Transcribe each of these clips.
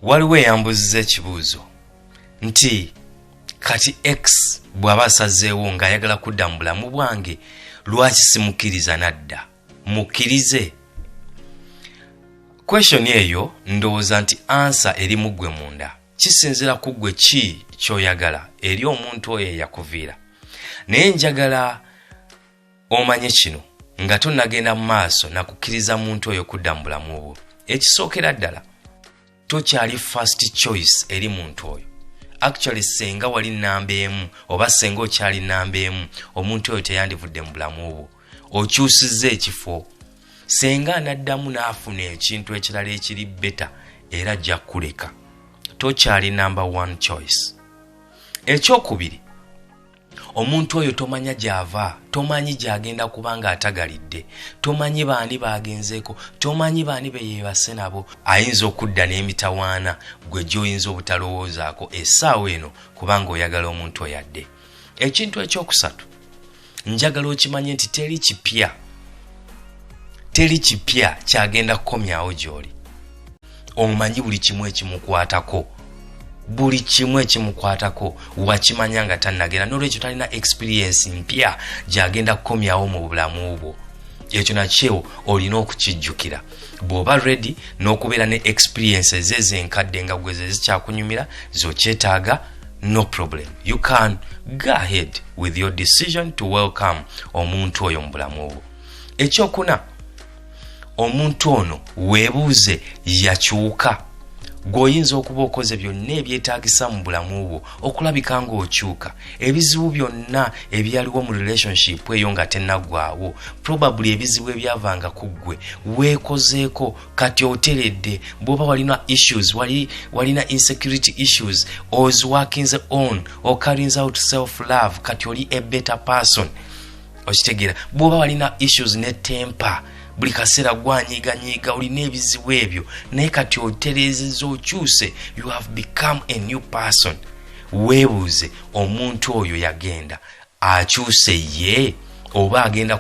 waliwo eyambuziza ekibuuzo nti kati x bw'aba asazeewo ng'ayagala kudda mu bulamu bwange lwaki simukkiriza nadda mukkirize kweshoni eyo ndowooza nti ansa eri mu ggwe munda kisinzira ku ggwe ki ky'oyagala eri omuntu oyo eyakuviira naye njagala omanye kino nga tonagenda mu maaso nakukkiriza muntu oyo kudda mu bulamu bwo ekisookera ddala tokyali first choice eri muntu oyo actually senga wali namba emu oba senga okyali namba emu omuntu oyo teyandivudde mu bulamu bwo okyusiza ekifo senga anaddamu n'afuna ekintu ekirala ekiri beta era ajja kuleka tokyali namba one choice ekyokubiri omuntu oyo tomanya gy'ava tomanyi gy'agenda kuba ng'atagalidde tomanyi baani baagenzeeko tomanyi baani be yeebase nabo ayinza okudda n'emitawaana gwe gy'oyinza obutalowoozaako essaawa eno kubanga oyagala omuntu oyadde ekintu ekyokusatu njagala okimanye nti teri kipya teri kipya kyagenda kukomyawo gy'oli omanyi buli kimu ekimukwatako buli kimu ekimukwatako wakimanya nga tannagenda nolwekyo talina experiensi mpya gyagenda kukomyawo mu bulamu bwo ekyo nakyo olina okukijjukira bw'oba redi n'okubeera ne experiences ezo enkadde nga gweze zikyakunyumira zokyetaaga no problem you can go ahead with your decision to welcome omuntu oyo mu bulamu obwo ekyokuna omuntu ono weebuuze yakyuka gweoyinza okuba okoze byonna ebyetagisa mu bulamu bwo okulabika ngaokyuka ebizibu byonna ebyaliwo mu relationship eyo nga tenaggwawo probably ebizibu ebyavanga ku ggwe weekozeeko kati oteredde bwoba walina issues walina insecurity issues oziwakinze on okarinze out self love kati oli a better person okitegeera bwoba walina issues ne tempa buli kaseera gwanyiganyiga olina ebizibu ebyo naye kati otereezeza okyuse you have become a new person weebuuze omuntu oyo yagenda akyuse ye oba agenda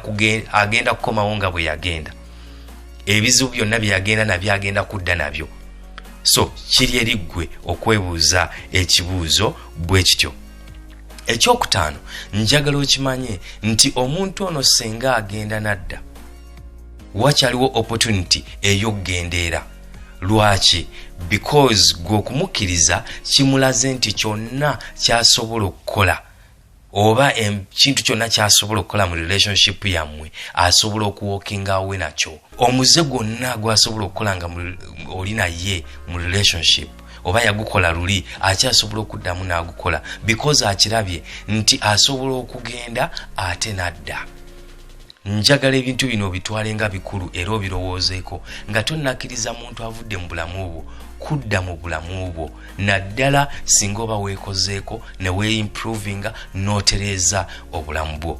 agenda kukomawo nga bwe yagenda ebizibu byonna byeyagenda nabyo agenda kudda nabyo so kiri eriggwe okwebuuza ekibuuzo bwe kityo ekyokutaano njagala okimanye nti omuntu ono senga agenda nadda wakyaliwo opportunity eyokgendeera lwaki because gwe okumukkiriza kimulaze nti kyonna kyasobola okukola oba ekintu kyonna kyasobola okukola mu relationship yammwe asobola okuwokingawe nakyo omuze gwonna gwasobola okukola nga oli naye mu relationship oba yagukola luli akyasobola okuddamu n'agukola because akirabye nti asobola okugenda ate n'adda njagala ebintu bino obitwale nga bikulu era obirowoozeeko nga tonnakkiriza muntu avudde mu bulamu bwo kudda mu bulamu bwo naddala singa oba weekozeeko ne weeimprovinga n'otereeza obulamu bwo